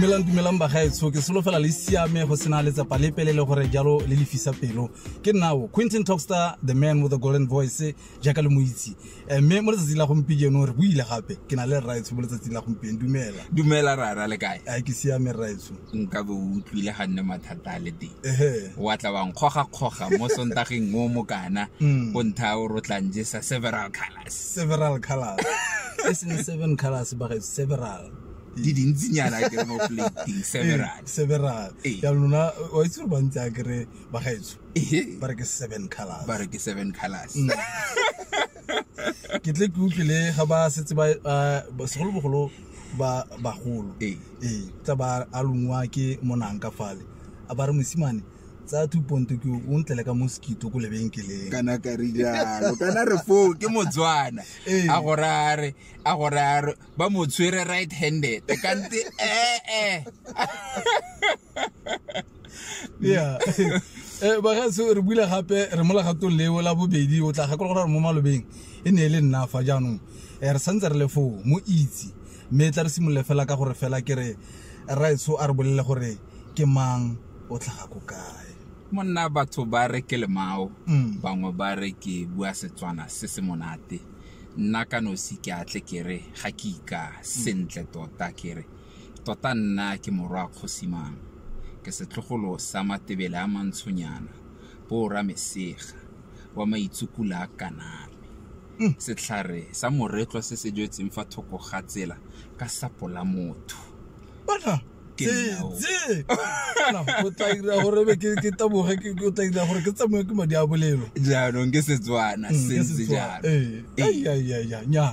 dumelang dumelang bagaetsho ke solofela le siame go sena letsapa le pelele gore jalo le lefisa pelo ke nnao quinton talkster the man with the golden voice jaaka le mo itse Eh, mme mo letsatsing la gompieno re buile gape ke na le rraetsho mo letsatsing la gompieno dumela dumela rara le kae a ke siame rraetsho nka be o utlwile ga nne mathata a le teng ehe wa tla wa nkgogakgoga mo sontageng o mokana Mm. o ntha o rotlang jesa several colors several colors e seng seven colors ba gaetsho several di dintsinyana ke re mo plating several Eh, several Ee. ya lona wa itse gore bantsi a kere bagaetso Ehe. ba re ke seven colors ba re ke seven colors Mm. ke tle ke utlwile ga ba setse ba ba- ba- segolobogolo ba bagolo Ee. ee tsa ba a longwa ke monang ka fale a ba re mosimane tsa two ponto ke o ntlele ka mosquito ko lebenkeleng kana ka re jalo kana re foo ke motswana Ee. a gore a re a gore a re ba mo tshwere right handed kante ee yeah eh ba ga se re bula gape re mola gato leo la bobedi o tla gakolola gore mo malobeng e ne e le nna fa jaanong eh, re santse re le foo mo itse mme e tla re simolole fela ka gore fela ke re raetso a re bolele gore ke mang o tlhaga ko kae monna batho ba re ke lemao mm. bangwe ba re ke bua setswana se se monate nna ka nosi ke atle ke re ga ke ika sentle tota ke re Tota nna ke morwa a Kgosimang, ke setlogolo sa Matebele a Mantshonyana, Boora Mesega, wa Maitsukula a Kaname. Setlhare sa moretlwa se se jwetseng fa thoko ga tsela ka sapo la motho. Bona, Ke tse, nna o. tse. Bona, o tla dira gore be ke, ke taboge, ke, o tla dira gore ke tsamaya ke madi a bolelo. Jaanong ke Setswana, Mm, ke sentse Setswana. jalo. Ee. Ee. Ai, ai, ai, ai, nya.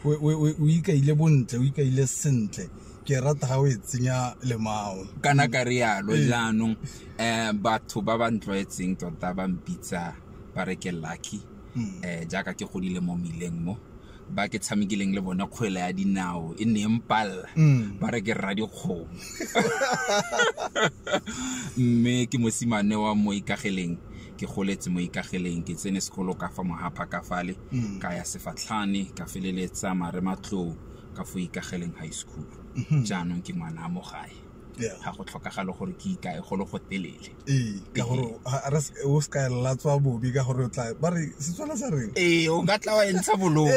o ikaile bontle o ikaile sentle ke rata ga o e tsenya lemao kana ka rialo ee. jaanong um batho ba ba ntlwaetseng tota ba mpitsa ba re ke lucky um jaaka ke godile mo mmileng mo ba ke tshamekileng le bone kgwele ya dinao e ne mpalla mm. ba re ke rra dikgomo mme ke mosimane wa mo ikageleng ke goletse mo ikageleng ke tsene sekolo ka fa mohapa ka fale mm. ka ya sefatlhane ka feleletsa mare matloo ka fo ikageleng high school mm-hmm. jaanong ke ngwana mo gae ga go tlhokagalo gore ke ikae golo go telele ee, ka gore o se ka latswa bobi ka gore o tla ba re setswana sa reng ee o ka tla wa entsha bolong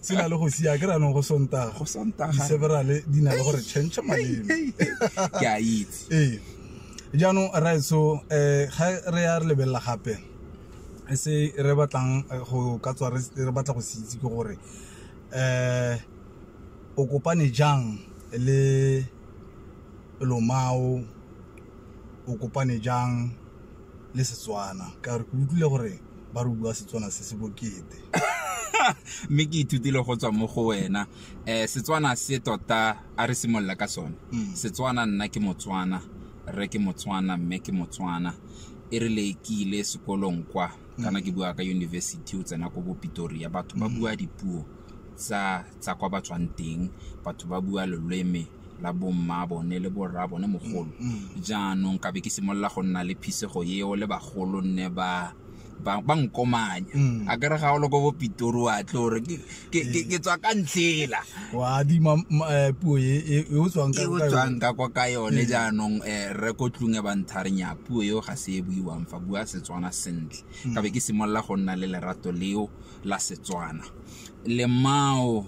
se na le go sia ke ranong go sontaga go sontaga di-severale di na le gore change maleme ke a itse ee jaanong raetso um eh, ga re ya re lebelela gape e se re batlang eh, go ka tswa re batla go se itse ke gore um o kopane jang le lomao o kopane jang le Setswana ka gore ke utlwile gore ba re bua Setswana se se bokete mme ke ithutile go tswa mo go wena um setswana se tota a re simolola ka sone mm. setswana nna ke motswana rre ke motswana mme ke motswana e re le ke ile sekolong kwa mm. kana ke bua ka university o tsena ko bopitori ya batho ba mm. bua dipuo tsa tsa kwa ba tswang teng batho ba bua loleme la bomma bone le borra bone mogolo jaanong ka be ke simolola go nna le phisego eo le bagolo nne ba ba ba nkomanya Mm. a kere ga o le ko bopitori wa tlo gore ke- ke ke- ke tswa ka ntlhela wa adima ma- eh, puo e e- e o tswang ka e o ka yone. tswang ka kwa ka yone jaanong um re ko tlung e bantharenya puo eo ga se e buiwang fa bua setswana sentle ka be ke simolola go nna le lerato leo la setswana lemao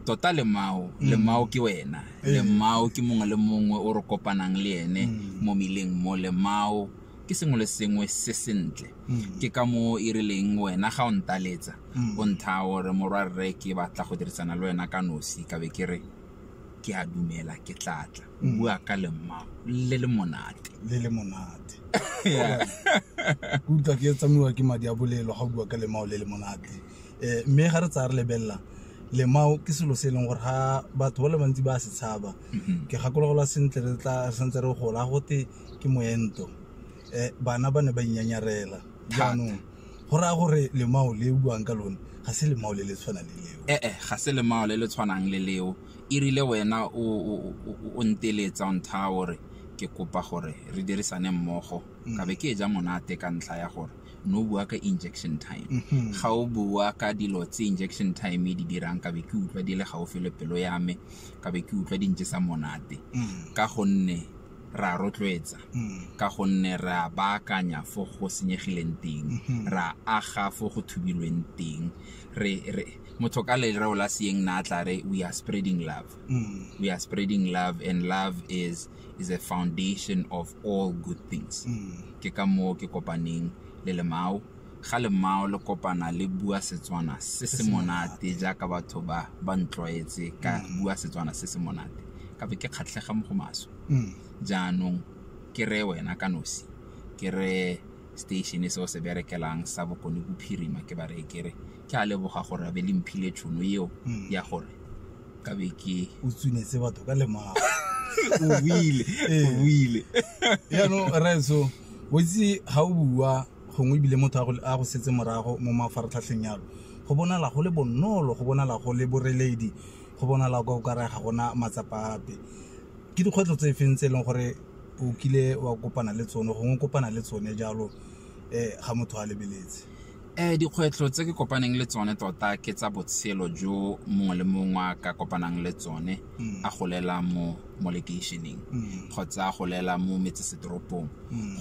tota lemao mm. lemao ke wena eh. lemao ke mongwe le mongwe o re kopanang le ene mm. mo mileng mo lemao ke sengwe le sengwe se sentle mm. ke ka mo e rileng wena ga o ntaletsa o ntha gore morwa rre ke batla go dirisana le wena ka nosi ka be ke re ke a dumela ke tlatla bua ka lemao le le monate le le monate ke utlwa ke tsamaiwa ke madi a bolelo ga o bua ka lemao le le monate um mme ga re tsaya re lebelela lemao ke selo se e leng gore ga batho ba le bantsi ba se tshaba mhm. ke gakologelwa sentle re tla santse re gola gote ke moento um bana ba ne ba inyanyarela jaanong go raya gore lemao le buang ka lone ga se lemao le le tshwanang le leo ee eh, eh, ga se lemao le le tshwanang le leo e rile wena o nteletsa o ntha gore ke kopa gore re dirisane mmogo mm. ka be ke e ja monate ka ntlha ya gore no bua ka injection time mm-hmm. ga o bua ka dilo tse injection time e di dirang ka be ke utlwa di le gaufi le pelo ya me ka be ke utlwa di ntse sa monate mm. ka gonne ra rotloetsa mm. ka gonne ra baakanya fo go senyegileng teng mm-hmm. ra aga fo go thubilweng teng re re motho ka lereo la seeng na tla re we are spreading love mm. we are spreading love and love is is a foundation of all good things mm. ke ka moo ke kopaneng le lemao ga lemao le kopana le bua setswana se se monate jaaka batho ba ba ntlwaetse ka mm. bua setswana se se monate ka be ke kgatlhega mo go maswe mm. jaanong ke re wena ka nosi ke re station se o se berekelang sa bokone bophirima ke ba re ke re ke a leboga gore a be le mphile tšhono eo Mm. ya gore ka be ke o tsunetse batho ka lemago o buile Ee. o buile yaanong raeso o itse ga o bua gongwe ebile motho a go- a go setse morago mo mafaratlhatlheng yalo go bonala go le bonolo go bonala go le boreledi go bonala ka o kare ga gona matsapa ape ke dikgwetlho tse feng tse e leng gore o kile wa kopana le tsone gongwe o kopana le tsone jalo um ga motho a lebeletse um dikgwetlho tse ke kopaneng le tsone tota ke tsa botshelo jo mongwe le mongwe a ka kopanang le tsone a golela mo mo lekeišeneng kgotsa a golela mo metsesetoropong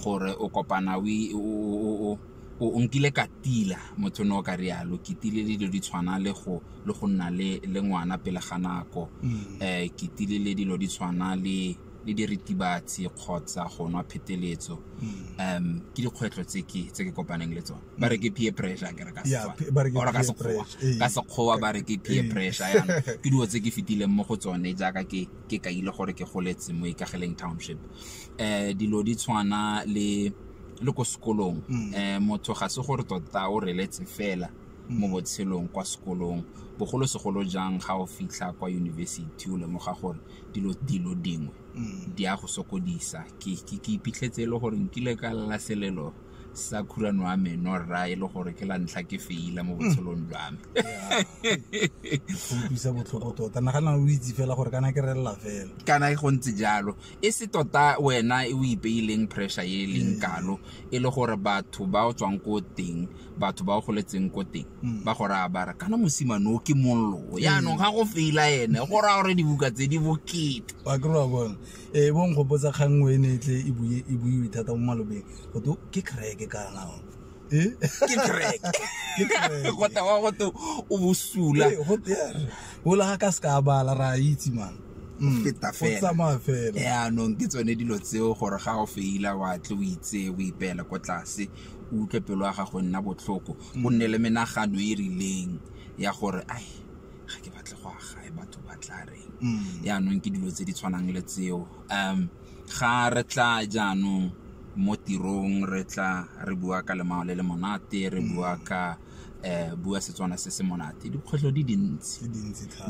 gore o kopana o i- o- o- o- o- o- o nkile ka tila motho ne o ka rialo ke tile le dilo di tshwana le go le go nna le le ngwana pele ga nako um ke tile le dilo di tshwana le le diritibatsi kgotsa go nwa pheteletso um ke dikgwetlho tse ke tse ke kopaneng le tsone ba re ke peer pressure ke re ka Yeah, Setswana. pe- ba re ke Or ka peer Sekgowa. pressure, ee. ka sekgowa ba re ke peer Ee. pressure yana ke dilo tse ke fetileng mo go tsone jaaka ke ke kaile gore ke goletse mo ikageleng township um dilo di tshwana le le ko sekolong Mm. um motho ga se gore tota o reletse fela mo botshelong kwa sekolong bogolosegolo jang ga o fitlha kwa yunibesithi o lemoga gore dilo dilo dingwe mm. di a go sokodisa ke ke iphitlhetse e le gore nkile ka lela selelo sa khurano wa me no rra e le gore ke la ntlha ke feila mo mm. botshelong jwa me go utlwisa botlhoko tota nagana o itse fela gore kana ke relela fela kana go ntse jalo e se tota wena e o ipeileng pressure e leng mm. kalo e le gore batho ba o tswang ko teng batho ba o goletseng ko teng Mm. ba go raya bara kana mosimane o ke mollo yaanong ga go feila ene go raya gore dibuka tse di bokete ba kry wa bone ee bo nkgopotsa kgang nngwe e ne e tle e bue- e buiwe thata mo malobeng go to ke creke kanao ee ke crack Ke crack. go tewa go te o bosula Ee, go tere ola ga ka se ka bala ra a itse man Mm, feta go fela. tsamaya fela yaanong ke tsone dilo tseo gore ga o feila wa tle o itse o ipeela ko tlase o utlwe pelo ya gago e nna botlhoko o nne le menagano e e rileng ya gore ai ga ke batle go agae batho ba tla reng Mm. yaanong ke dilo tse di tshwanang le tseo um ga re tla jaanong mo tirong re tla re bua ka lemao le le monate re bua ka um bua setswana se se monate dikgwetlho di dintsi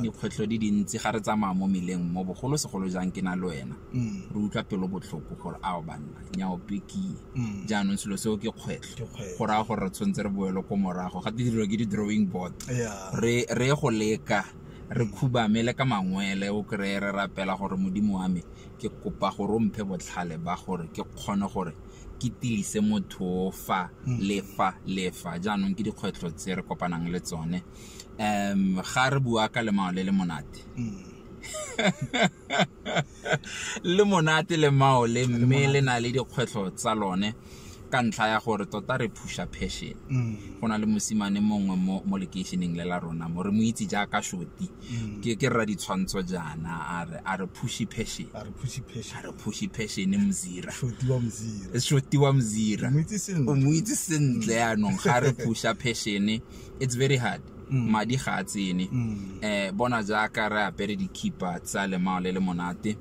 dikgwetlho di dintsi ga re tsamaya mo meleng mo bogolo segolo jang ke na le wena mm. re utlwa pelo botlhoko gore ao banna nyao pekie mm. jaanong selo seo ke kgwetlho go raya gore re tshwanetse re boelo ko morago ga didiro ke di-drawing board re ye go leka re mm. khubame le ka mangwele o kry-e re rapela gore modimo wa me ke kopa gore o mphe botlhale ba gore ke kgone gore ke tilise motho o fa mm. le fa le fa jaanong ke dikgwetlho tse re kopanang le tsone um ga re bua ka lemao le le monate mm. le monate le mao le mme le na le dikgwetlho tsa lone ka ntlha ya gore tota re phusha passion mm. go na le mosimane mongwe mo lekeišeneng le la rona mo re mo itse jaaka shoti ke ke rra ditshwantsho jaana a re a re pushy passion a re pushy passion a re pushy passion mzira shotiwa mzira e shotiwa mzira o mo itse sentle yaanong ga re pusha passion it's very hard mm. madi ga a tsene mm. eh bona jaaka re apere dikhipa tsa lemao le le monate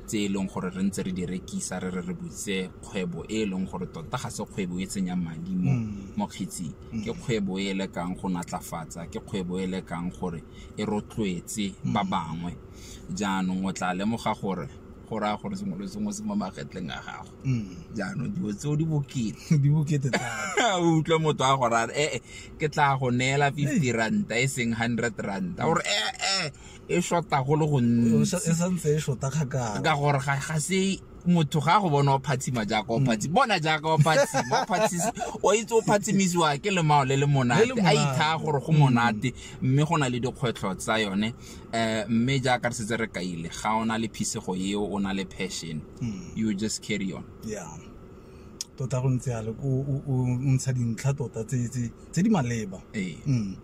tse e leng gore re ntse re di rekisa re re re butse kgwebo e e leng gore tota ga se kgwebo e tsenyang madi mo mm. kgetsing ke kgwebo e le kang go natlafatsa ke kgwebo e le kang gore e rotloetse ba mm. bangwe jaanong o tla lemoga gore go raya gore sengwe le sengwe se mo magetleng a gago mm. jaanong dilo tseo di bokete di bokete o utlwe motho a gore ee eh, eh, ke tla go neela fifty ranta e seng hundred ranta gore ee eh, e shota go le go ntsi e santse e shota kgakala ka gore ga ga se motho ga go bona o phatsima jaaka o phatsi bona jaaka o phatsima o phatsisi o itse o phatsimisiwa ke lemao le le monate a ithaa gore go monate mme go na le dikgwetlho tsa yone um mme jaaka re setse re kaile ga o na le phisego eo o na le passion you just carry on yeah tota go ntse yalo o ntsha dintlha tota tse tse di maleba Ee. Mm.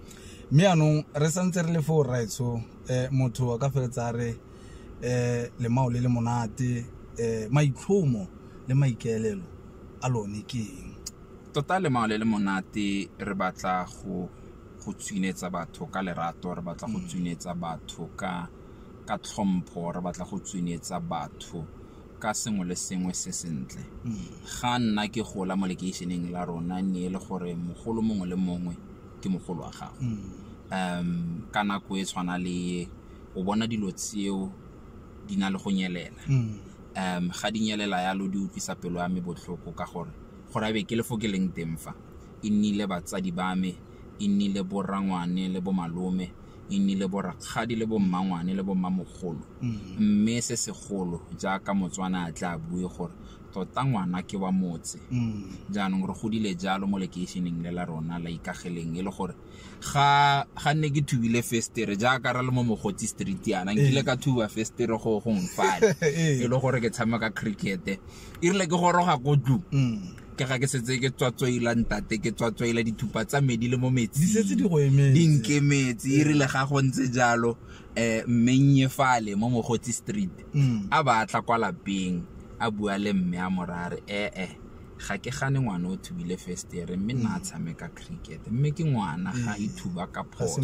mme anong re santse re le foo raetsho um motho a ka feletsa a re um lemao le le monate um maitlhomo le maikaelelo a lone ke eng tota lemao le le monate re batla go go tswinetsa batho ka lerato re batla go tswinetsa batho ka ka tlhompho re batla go tswinetsa batho ka sengwe le sengwe se sentle ga nna ke gola mo lekeišeneng la rona ne e le gore mogolo mongwe le mongwe ke mogolo wa gago um ka nako e tshwana le ye o bona dilo tseo di na le go nyelela um ga di nyelela yalo di utlwisa pelo ya me botlhoko ka gore gore a be ke le fo ke leng teng fa e nnile batsadi ba me e nnile bo rangwane le bo malome e nnile bo rakgadi le bo mmangwane le bo mmamogolo mm. mme se segolo jaaka motswana a tla bue gore tota ngwana ke wa motse mm. jaanong re godile jalo mo lekeišeneng le la rona la ikageleng e le gore ga ga nne ke thubile festere jaaka ra le mo mogotsi street yana nkile eh. ka thuba festere go gong fale eh. e le gore ke tshameka cricket e rile ke goroga ko tlu mm. ke ga ke setse ke tswatswaila ntate ke tswatswaila dithupa tsa me di le mo metsi di setse di go emetse di nke metsi e rile ga go ntse jalo um mme nnye fale mo mogotsi street mm. a ba tla kwa lapeng a bua le mme a morare ee ga ke gane ngwana o thubile festere mme nna a mm. tshameka cricket mme ke ngwana ga e thuba ka phoso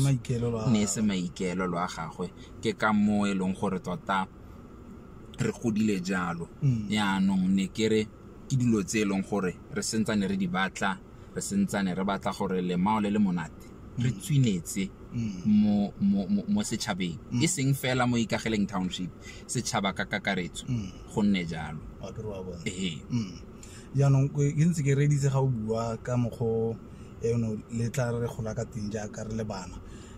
ne e se maikeelelo a gagwe ke ka moo e leng gore tota re godile jalo mm. yaanong ne ke re ke dilo tse e leng gore re sentsane re di batla re sentsane re batla gore lemao le le monate re mm. tswinetse mm. mo, mo, mo, mo setšhabeng mm. e seng fela mo ikageleng township setšhaba ka kakaretso mm. go nne jalo ee mm. jaanong ke ntse ke reditse ga o bua ka mokgwa eno le tla re gola ka teng jaaka re le bana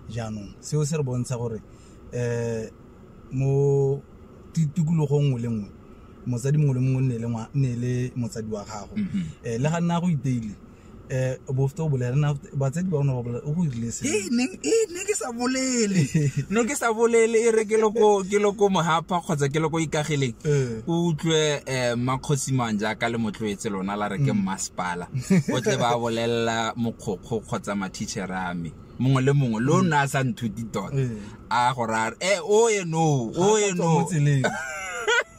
jaanong seo se re bontsha gore um Mo tikologong nngwe le nngwe motsadi mongwe le mongwe nne le motsadi wa gago mhm. eh, le ga nna go iteile eh bofto bolela na batsadi ba ona ba bolela o go irile se e ne e ne ke sa bolele ne ke sa bolele e re ke loko ke loko mohapa kgotsa ke loko ikagileng eh. o utlwe eh makgosi mang ja ka le motloetse lona la re ke mm. masipala o tle ba bolella mokgokgo kgotsa ma teacher a me mongwe le mongwe lo nna a sa nthuti tota Ee. a go raya e o eno o Ga a ka tswa eno mo tseleng.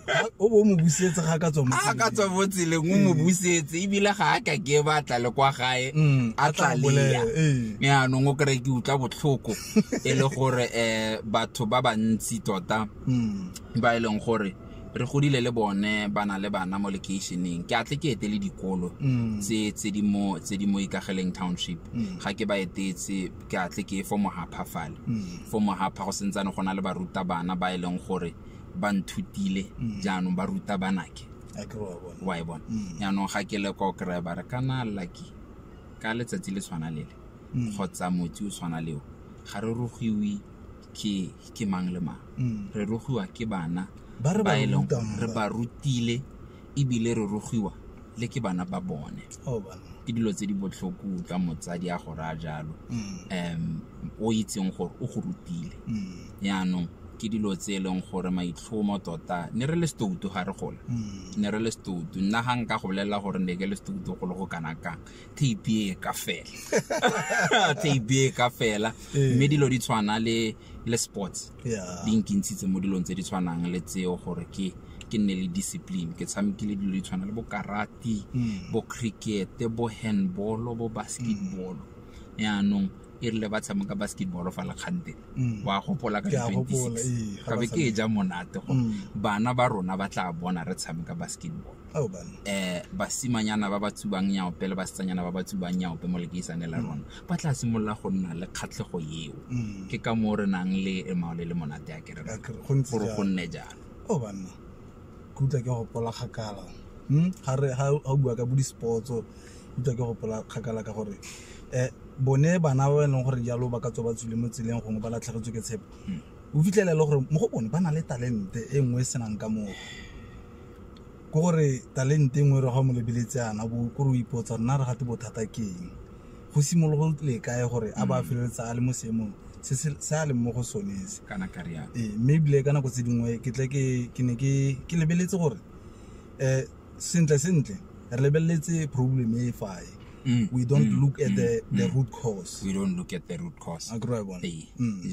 Ga- o bo o mo busetse ga a ka tswa mo a tseleng. ka tswa mo tseleng o mo busetse ebile ga a ka ke ba tla le kwa gae Mm, a a tla tlalea bolela, ee. yaanong o kry ke utlwa botlhoko e le gore um batho ba bantsi tota Mm. ba e leng gore re godile le bone ba na le bana mo lekeišeneng ke atle ke etele dikolo mm. tse tse di mo tse di mo ikageleng township mm. ga ke ba etetse ke atle ke fo mohapha fale mm. fo mohapha go sentsane go na le baruta bana ba e leng gore ba nthutile jaanong ba ruta banake wa e bona jaanong ga ke le ko kry ba re kana lucky ka letsatsi le tshwana lele kgotsa motsi o tshwana leo ga re rogiwe ke ke mang le mang Mm. re rogiwa ke bana Ba re ba e leng rutang gore re ba. ba rutile ebile re rogiwa le ke bana ba bone Oh, bana. ke dilo tse di botlhoko utlwa motsadi a go raya jalo Mm. um o itseng gore o go rutile Mm. yaanong ke dilo tse e leng gore maitlhomo tota ne re le setoutu ga re gola Mm. ne re le setoutu nna ga nka go bolelela gore ne ke le setoutu go le go kana kang tape e ka fela tape e ka fela ee. mme dilo di tshwana le le sports di nkintshitse mo dilong tse di tshwanang le tseo gore ke ke nne le discipline ke tshamekile dilo di tshwana le bo karate hmm. bo cricket bo handball bo basketball hmm. yaanong mm. e rile ba tshameka basketball fa le kgante mm. wa gopola ka di-twenty-six ee, ka be ke e ja monate gore mm. bana ba rona ba tla bona re tshameka basketball Oh, eh basimanyana ba ba tsubang nyaope le basetsanyana ba ba tsubang nyaope mo lekeisane la rona mm. ba tla simolola go nna le kgatlhego eo mm. ke ka moo re nang le emao le le monate ya kereke gore go nne jalo o oh, banna ke utlwa ke gopola kgakala hmm? ga o bua ka bo di-sportso utlwa ke gopola kgakala ka gore um bone bana ba e leng gore jalo ba ka tswa ba tswile mo tseleng gongwe ba latlhegetswe ke tshepo hmm. o fitlhela e le gore mo go bone ba na le talente e nngwe e senang ka moo ke gore talente e nngwe re ga mo lebeletse ana bo kore o ipotsa nna re gate bothata ke eng go simologo le kae gore a ba mm. feleletsa a le mo seemong se se a leng mo go sone se kana ka riana ee mme ebile ka nako tse dingwe ke tle ke ke ne ke ke lebeletse gore um sentle sentle re lebeletse problem e fae mm. we don't mm. look at the, mm. the mm. root cause we don't look at the root cause ee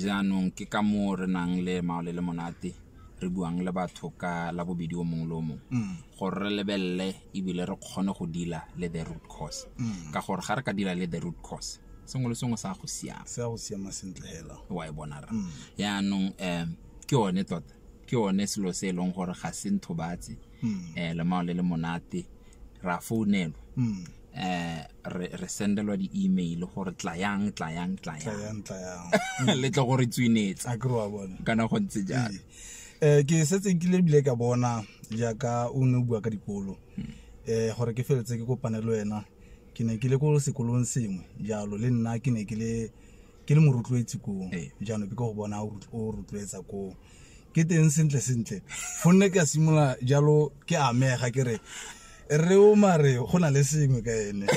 jaanong ke ka moo re nang le maole le monate re buang le batho ka la bobedi o mongwe le o mongwe mm. gore re lebelele ebile re kgone go dila le the root cause mm. ka gore ga re ka dila le the root cause sengwe le sengwe sa go siama se go siama sentle hela wa e bona ra mm. yaanong um ke one tota ke one selo se e leng gore ga se nthobatse um eh, lemao le le monate ra founelwa eh re re sendelwa di email gore tlayang tlayang tlayang tlayang le tlo gore tswinetsa a kro wa bona kana go ntse jalo eh ke setse ke le bile ka bona jaaka o ne o bua ka dikolo hmm. eh gore ke feletse ke kopane le wena ke ne ke le ko sekolong sengwe jalo le nna ke ne ke le ke le morotloetsi koo ee. jaanong ke ko go bona o rotloetsa koo ke teng sentle sentle gonne ke a simolola jalo ke amega ke re re o mare go na le sengwe ka ene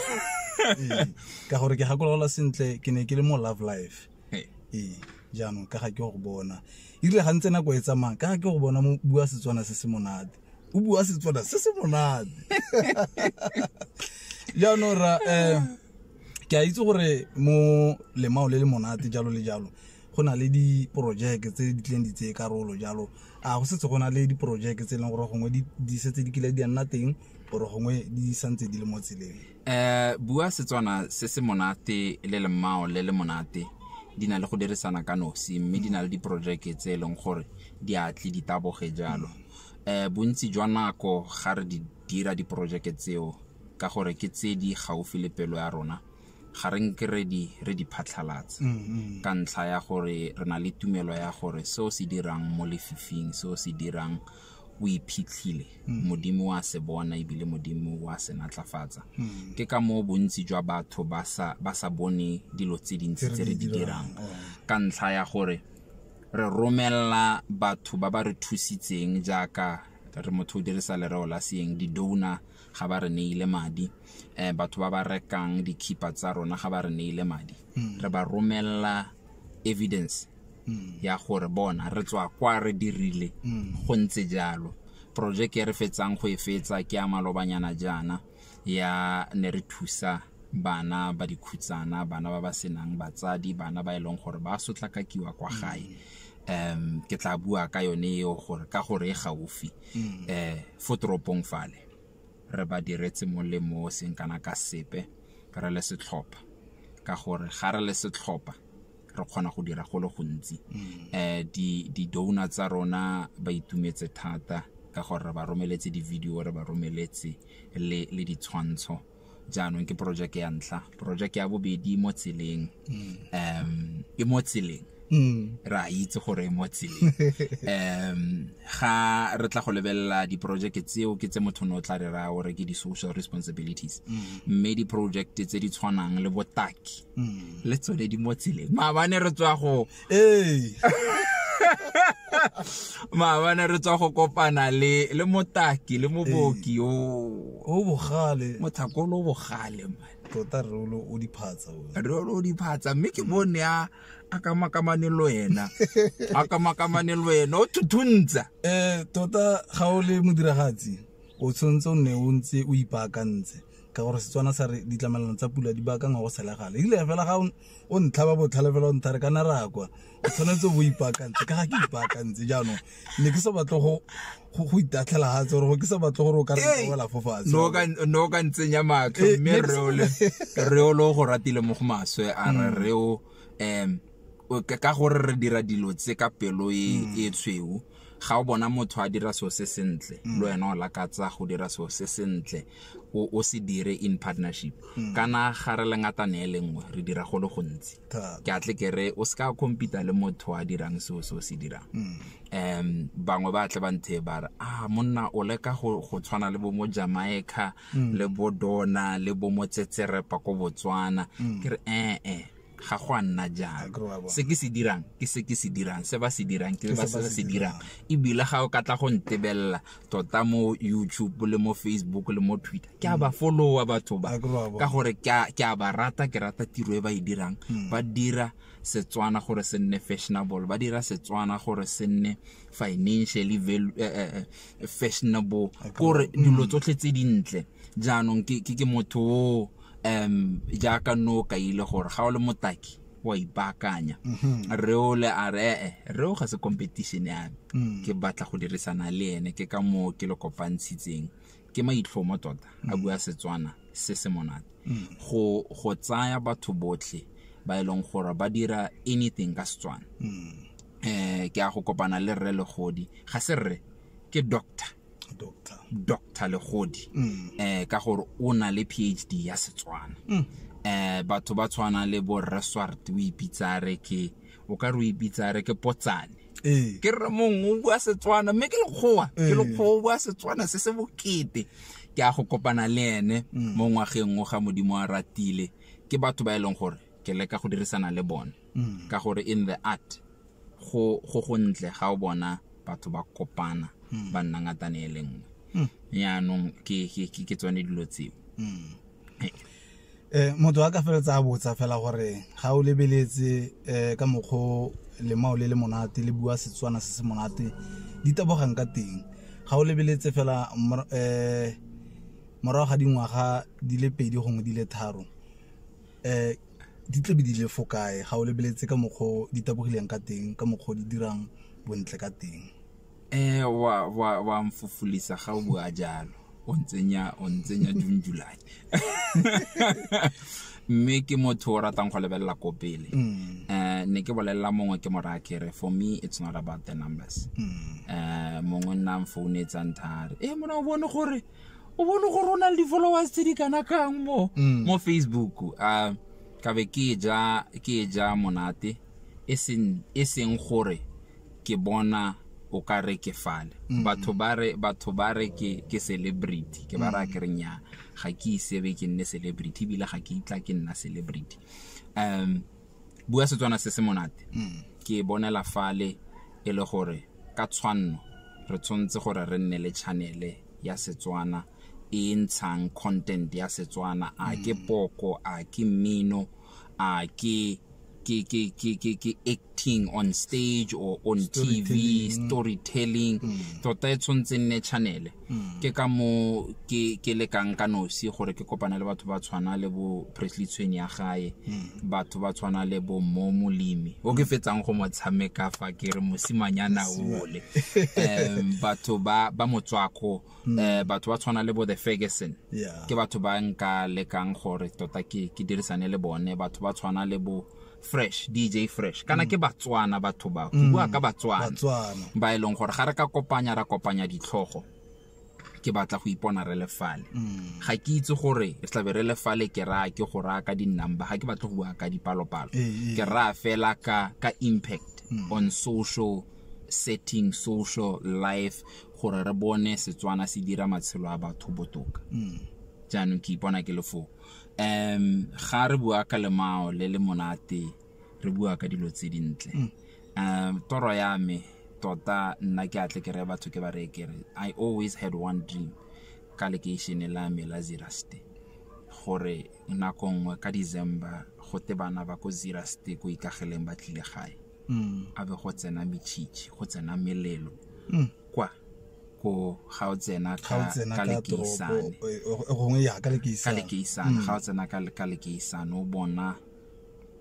Ee, ka gore ke gakolola sentle ke ne ke le mo love life Hey. ee jaanong ka ga ke go bona erile ga ntse nako e tsamaya ka ga ke go bona mo bua setswana se se monate o bua setswana se se monate jaanong ra um ke a itse gore mo lemao le le monate jalo le jalo go na le diporojeke tse di tleng di tseye karolo jalo a go setse go na le diporojeke tse e leng gore gongwe di setse di kile di a nna teng gore gongwe di santse di le mo tseleng um bua setswana se se monate le lemmao le le monate di na le go dirisana ka nosi mme di na le diporojeke tse e leng gore di atle di taboge jalo um bontsi jwa nako ga re di dira diporojeke tseo ka gore ke tse di gaufi le pelo ya rona ga re nke re di re di phatlhalatse mm-hmm. ka ntlha ya gore re na le tumelo ya gore seo se dirang mo lefifing seo se dirang o iphitlhile mm. modimo wa se bona ebile modimo wa se natlafatsa mm. ke ka moo bontsi jwa batho ba sa bone dilo tse dintsi tse re di dirang oh. ka ntlha ya gore re romelela batho ba ba re thusitseng jaaka re motho o dirisa lereo la seeng di-donor ga ba re neile madi um batho ba ba rekang dikhipa tsa rona ga ba re neile madi hmm. re ba romelela evidence hmm. ya gore bona re tswa kwa re dirile hmm. go ntse jalo projeke e re fetsang go e fetsa ke ya malobanyana jaana ya ne re thusa bana ba dikhutsana bana ba ba senang batsadi bana ba e leng gore ba sotlakakiwa kwa gae um ke tla bua ka yone eo gore ka gore e gaufi mm. um fo toropong fale re ba diretse molemo o seng kana ka sepe re le setlhopha ka gore ga re le setlhopha re kgona go dira go le gontsi um di-donor tsa rona ba itumetse thata ka gore re ba romeletse di-video re ba romeletse le ditshwantsho jaanong ke porojeke ya ntlha porojeke ya bobedi mo tseleng um e mo tseleng Mm. re a itse gore e mo tseleng um ga re tla go lebelela diporojeke tseo ke tse motho ne o tla re raya gore ke di-social responsibilities mme diporojekte tse di tshwanang le botaki le tsone di mo tseleng maabane re tswa go ee maabane re tswa go kopana le le motaki le moboki o o bogale mothakolo o bogale man tota rolo o diphatsa rolo o diphatsa mme ke bone a a ka makamane le wena a ka makamane le wena o thuthuntsa eh tota ga o le modiragatsi o tshwanetse o nne o ntse o ipaakantse ka gore setswana sa re ditlamelano tsa pula di baakangwa go selegale ile fela ga o ntlha ba botlhale fela o ntha re kana ra kwa o tshwanetse bo ipaakantse ka ga ke ipaakantse jaanong ne ke sa batle go go itatlhela ga tse gore ke sa batle gore o ka rewela fo fatshe no o ka ntsenya matlho eh, mme re o le go ratile mo go maswe a re re o um ka gore re dira dilo tse ka pelo e mm. e tshweu ga o bona motho a dira so se sentle mm. le wena o lakatsa go dira so se sentle o se dire in partnership mm. kana ga re le ngatane e lengwe re dira go le gontsi ke atle ke re o se ka compete le motho a dirang so so se dirang um bangwe ba tle ba nthe ba re a ah, monna o leka go tshwana le bo mo jamaica le bo dona le bo mo tsetserepa ko botswana ke re ee eh, eh. ga go a nna jang se ke se dirang ke se ke se dirang se ba se dirang ke ba se se dirang ebile ga o ka tla go ntebelela tota mo youtube le mo facebook le mo twitter ke a ba followa batho ba ka gore ke a ba rata ke rata tiro e ba e dirang hmm. ba dira setswana gore se nne fashionable ba dira setswana gore se nne financially value, eh, eh, eh, eh fashionable gore hmm. dilo tsotlhe tse dintle jaanong ke motho o um jaaka nno o kaile gore ga o le motaki wa ipaakanya mm-hmm. re ole a re ee re o ga se competition ya me mm. ke batla go dirisana le ene ke ka moo ke le kopantshitseng ke maitlhomo tota a mm. bua setswana se se monate mm. go tsaya batho botlhe ba e leng gore ba dira anything ka setswana um ke a go kopana le rre legodi ga se rre ke doctor doctor doctor legodi mm. eh ka gore o na le phd ya setswana mm. eh batho ba tshwana le bo resort o ipitsa re ke o ka re o ipitsa re ke potsane eh. ke re mong o bua setswana mme ke lekgowa ke eh. lekgowa o bua setswana se se bokete ke a go kopana le ene mm. mo ngwageng o ga modimo a ratile ke batho ba e leng gore ke leka go dirisana le bone mm. ka gore in the art go go gontle ga o bona batho ba kopana mm. ba nna ngatane e le nngwe mm. yaanong ke tsone dilo tseo eh motho a ka feletsa a botsa fela gore ga o lebeletse eh ka mokgo lemao le le monate le bua setswana se se monate di tabogang ka teng ga o lebeletse fela eh morago ga dingwaga di le pedi gongwe di le tharo eh di tle be di le fo kae ga o lebeletse ka mokgwa o di tabogileng ka teng ka mokgwa o di dirang bontle ka teng eh wa wa wa mfufulisa ga o bua jalo o ntsenya o ntsenya June July mme ke motho o ratang go lebelela ko pele mm. eh ne ke bolelela mongwe ke mora kere for me it's not about the numbers mm. eh mongwe nna mfounetsang thare eh mona o bone gore o bone gore o na le di-followers tse di kana kang mo mm. mo facebook um ka be ke ja ke ja monate e seng e gore ke bona o ka re ke fale mm. batho ba re batho ba re ke ke celebrity ke ba ra mm. ke re nya ga ke isebe ke nne celebrity ebile ga ke itla ke nna celebrity um bua setswana se se monate mm. ke e bonela fale e le gore ka tshwanno re tshwanetse gore re nne le chanele ya setswana e ntshang content ya setswana a ke mm. poko a ke mmino a ke ke ke ke ke ke acting on stage or on TV storytelling mm. tota e tshwanetse nne channel mm. ke ka mo ke ke lekang ka nosi gore ke kopana le batho ba tshwana le bo Presley Tshweni ya gae mm. batho ba tshwana le bo mo molimi o ke fetsang go mo tshameka fa ke re mosimanyana ole um batho ba ba motswako mm. eh, batho ba tshwana le bo the Ferguson ke batho ba nka lekang gore tota ke ke dirisane le bone batho ba tshwana le bo fresh dj fresh kana mm. ke batswana batho ba go mm. bua ka batswana ba e leng gore ga re ka kopanya ra kopanya ditlhogo ke batla go ipona re le fale mm. ga ke itse gore re tlabe re le fale ke raya ke go raya ka di-number ga ke batle go bua ka dipalopalo eh, eh. ke raya fela ka ka impact on social setting social life gore re bone setswana se dira matshelo a batho botoka jaanong ke ipona ke le foo um ga re bua ka lemao le le monate re bua ka dilo tse dintle mm. um toro ya me tota nna ke atle ke re batho ke ba reye kere i always had one dream ka lekeišene la me la ziraste gore nako nngwe ka december go te bana ba ko ziraste ko ikageleng ba tlile gae mm. a be go tsena metšhitšhi go tsena melelo mm. kwa ko ga o tsena ka lekeisane gongwe ya ka lekeisane mm. ga o tsena ka lekeisane o bona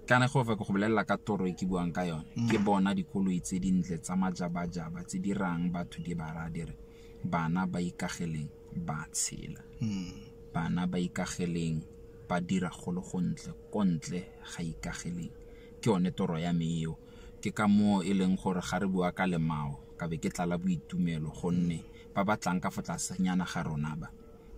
kana go fa go bolelela ka toro e ke buang ka yone mm. ke bona dikoloi tse dintle tsa majabajaba tse di rang batho di ba ra dire bana ba ikageleng ba tshela mm. bana ba ikageleng ba dira go le gontle ko ntle ga ikageleng ke yone toro ya me eo Ke ka moo e leng gore ga re bua ka lemao ka be ke tlala boitumelo gonne ba ba tlang ka fo tlasenyana ga rona ba,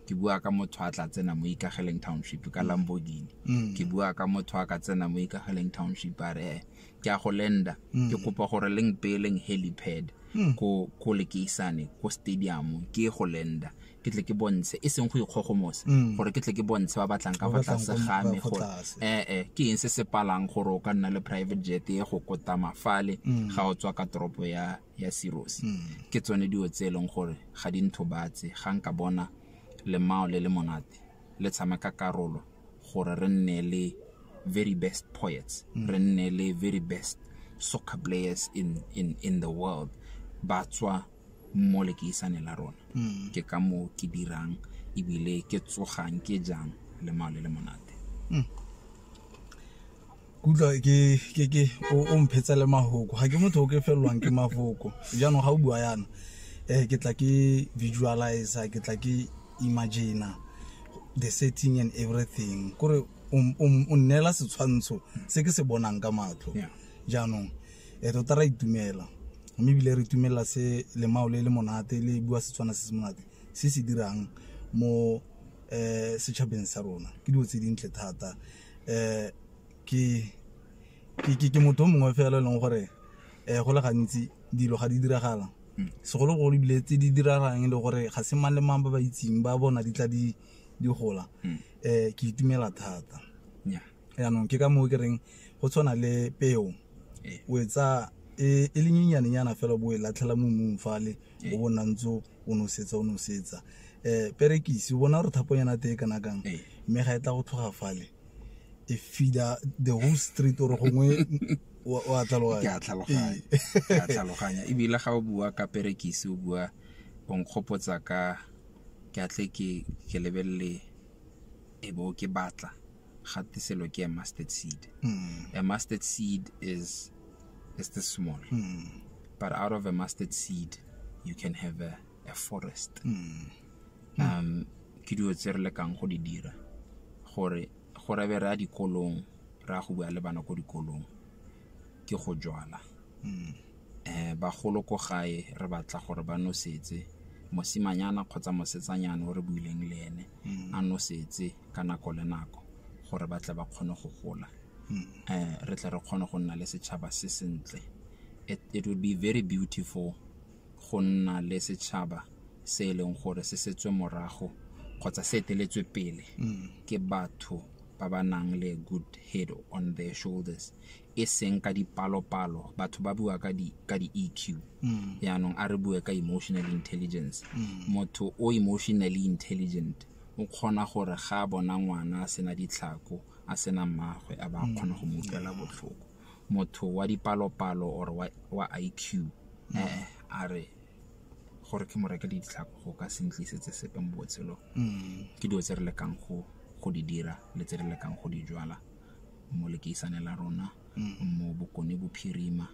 ke bua ka motho a tla tsena mo Ikageleng Township ka Lamborghini, ke bua ka motho a ka tsena mo Ikageleng Township a re ke a go lenda, ke kopa gore le mpeeleng helipad ko lekeisane ko stadium ke e go lenda. ke tle ke bontshe e seng go ikgogomosa mm. gore ke tle ke bontshe ba batlang ka fa tlase ga me gore ee eh, eh, ke eng se se palang gore o ka nna le private jet e go kota mafale mm. ga o tswa ka toropo ya ya seros mm. ke tsone dilo tse e leng gore ga di ntho batse ga nka bona lemao le le monate le tshameka karolo gore re nne le very best poets re nne le very best soccer players in, in, in the world ba tswa mo lekeisaneng la rona mm. ke ka moo ke dirang ebile ke tsogang ke jang le mao le le monate mm. kutlwa ke o mphetse le mafoko ga ke motho o ke felelwang ke mafoko jaanong ga o bua yana um ke tla ke visualize ke tla ke imagina the setting and everything kore o nnela setshwantsho se ke se bonang ka matlho jaanong e tota ra itumela mme ebile re itumelela se lemao le le monate le bua setswana se se monate se se dirang mo eh setšhabeng sa rona ke dilo tse dintle thata eh ke ke ke ke motho o mongwe fela e leng gore eh go le gantsi dilo ga di diragala segologolo ebile tse di diragalang e le gore ga se mang le mang ba ba itseng ba bona di tla di di gola eh ke itumela thata Nnyaa. yaanong ke ka moo ke reng go tshwana le peo ee. o e tsaya e, e le nyenyanenyana fela bo e latlhela mo mmung fale ee. o bo nna ntse o nosetsa o nosetsa um perekisi o bona gore thaponyana tee kana kang ee. mme ga e tla go tlhoga fale e feeda the whole street ore gongwe wa tlhaloganya ebile ga o bua ka perekisi o bua o nkgopotsa ka ke atle ke lebelele e bo ke batla ga te selo ke a mustard seed mm. a mustard seed is is the small mm. but out of a mustard seed you can have a, a forest mm. mm. um ke dilo tse re lekang go di dira gore gore be re a dikolong re a go bua le bana ko dikolong ke go jwala mm. eh bagolo ko gae re batla gore ba nosetse mosimanyana kgotsa mosetsanyana o re buileng le ene mm. a nosetse ka nako le nako gore ba tle ba kgone go gola um re tle re kgone go nna le setšhaba se sentle it would be very beautiful go nna le setšhaba se e leng gore se setswe morago kgotsa se eteletswe pele ke batho ba ba nang le good head on their shoulders e seng ka dipalopalo batho ba bua ka di ka di EQ mm. yaanong a re bue ka emotional intelligence mm. motho o emotionally intelligent o kgona gore ga a bona ngwana a sena ditlhako a sena mmagwe a ba mm. kgona go mo utlwela botlhoko motho wa dipalopalo or wa, wa IQ mm. eh, a re gore ke mo reke ditlhako go ka sentlisetse sepe mo botshelong mm. ke dilo tse re lekang go go di dira le tse re lekang go di jwala mo lekeisane la rona mo bokone bophirima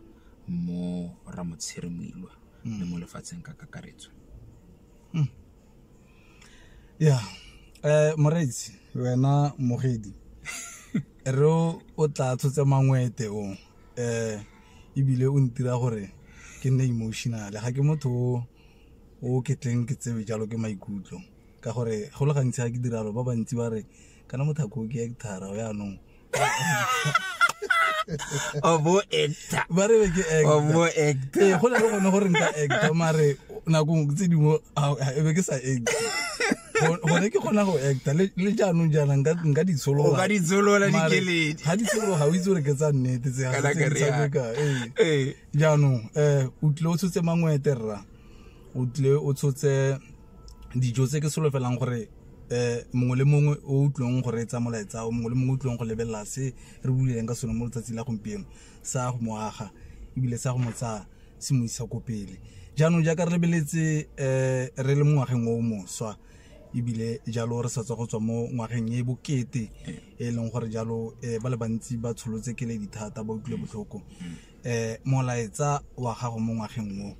mo ramotshire moilwa le mo lefatsheng ka kakaretso ya um moreetsi wena mogedi re o o tla tshotse mangwete o um ebile o ntira gore ke nne emotional ga ke motho o o ketleng ke tsebe jalo ke maikutlo ka gore go le gantsi ga ke diralo ba bantsi ba re kana motho a koke actara o yaanong obo actor ba re be ke obo actor ee go na le gone gore nka actor mare nakong tse dingwe e be ke sa actor gone ke kgona go actor le jaanong jaana nka ditshologa ditsholola dikeledi ga ditshologa ga o itse gore ke tsa nnete tse gaaka ee. ee. jaanong um o tlile o tshotse mangwete rra o tlile o tshotse dijo tse ke solofelang gore um mongwe le mongwe o utlwang go reetsa molaetsa o mongwe le mongwe o utlwang go lebelela se re buleleng ka sone mo letsatsi la gompieno sa go mo aga ebile sa go mo tsaya se mo isa ko pele jaanong jaaka re lebeletse um re le mo ngwageng o moswa ebile jalo re sa tswa go tswa mo ngwageng e bokete e leng gore jalo um ba le bantsi ba tsholotse keledi thata ba utlwile botlhoko eh molaetsa wa gago mo ngwageng o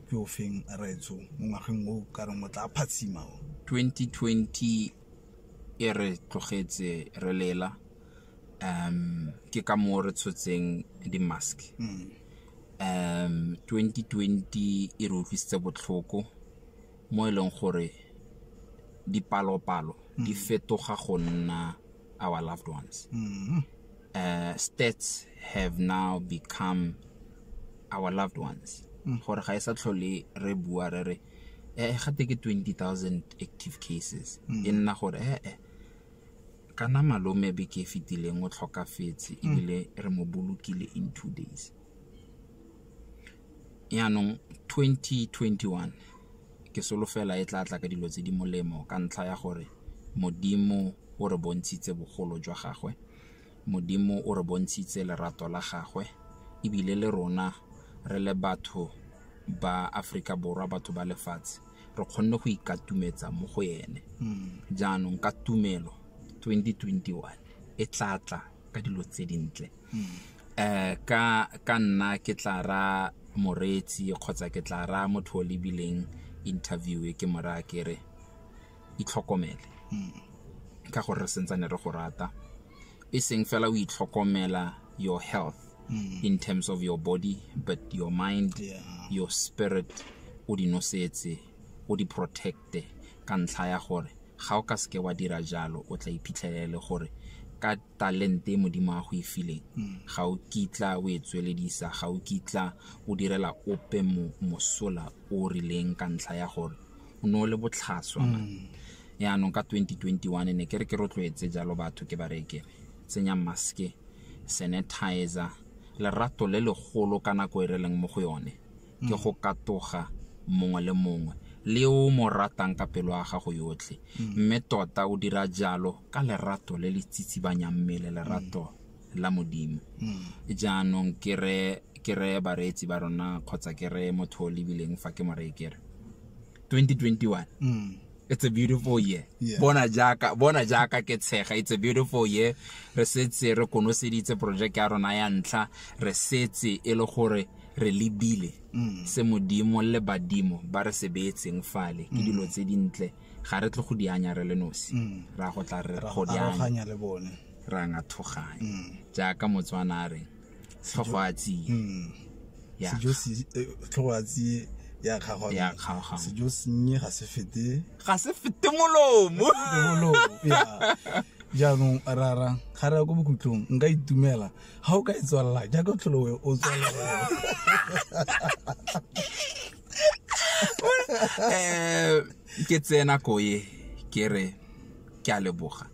ke o feng raetso mo ngwageng o ka reng o tla phatsima o 2020 e re tlogetse re lela um ke ka moo re tshotseng di-mask um 2020 e re utlwisitse botlhoko mo e leng gore dipalopalo di fetoga go nna our loved ones uh, stats have now become our loved ones mm. gore ga e sa tlhole re bua re re eh, eh gate ke 20000 active cases mm. e nna gore ee eh, kana malome be ke fitileng o tlhokafetse ebile re mo bolokile in two days Jaanong 2021 ke solofela e tla tla ka dilo tse di molemo ka ntlha ya gore Modimo o re bontshitse bogolo jwa gagwe, Modimo o re bontshitse lerato la gagwe e bile le rona re le batho ba Aforika Borwa, batho ba lefatshe re kgonne go ikatumetsa mo go ene. Jaanong ka tumelo 2021 e tla tla ka dilo tse dintle. eh ka ka nna ke tla ra moreetsi kgotsa ke tla ra motho o lebileng interview e ke mora ke re itlhokomele ka gore re sentsane re go rata e seng fela o itlhokomela your health mm. in terms of your body but your mind yeah. your spirit o di nosetse o di protecte ka ntlha ya gore ga o ka seke wa dira jalo o tla iphitlhelele gore ka talente e modimo a go e fileng hmm. ga o kitla o e tsweledisa ga o kitla o direla ope mosola o rileng ka ntlha ya gore o ne o le botlhaswa hmm. yaanong ka 2021 ne ke re ke rotloetse jalo batho ke bareke tsenya maske sanitizer lerato le legolo ka nako e re leng mo go yone ke go katoga mongwe le mongwe le o mo ratang ka pelo ya gago yotlhe mme tota o dira jalo ka lerato le le tsitsibanyang mmele lerato la modimo jaanong ke re ke re bareetsi ba rona kgotsa ke re motho o lebileng fa ke mo reye ke re 2021 Mm. it's a beautiful year Yeah. bona jaaka bona jaaka ke tshega it's a beautiful year re setse re konoseditse project ya rona ya ntlha re setse e le gore re lebile mm. se modimo le badimo ba re se beetseng fale ke mm. dilo tse dintle ga re tle go di anya re le nosi mm. ra go tla re go di anya le bone ra nga thoganya jaaka motswana a reng tlhogo a tsiye ya tlhogo a tsiye ya kgago ya kgago sejo sennye ga se fete ga se fete molomo molomo ya jaanong rara ga re ya ko bokhutlong nka itumela ga o ka e tswalela jaaka tlholowe o tswalela eh, ke tseye nako e ke re ke a leboga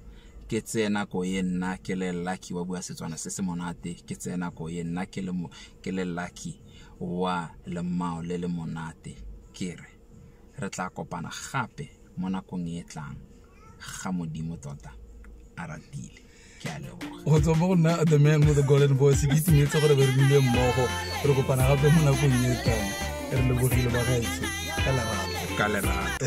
ke tseye nako e nna ke le lucky wa bua setswana se se monate ke tseye nako e nna ke le lucky wa lemao le le monate ke re re tla kopana gape mo nakong e tlang ga modimo tota a ratile ke a leboga go tswa mo go nna the man with the golden voice ke itumetse gore be re bile mmogo re kopana gape mo nakong e tlang re lebogile ba gaetsho ka lerato ka lerato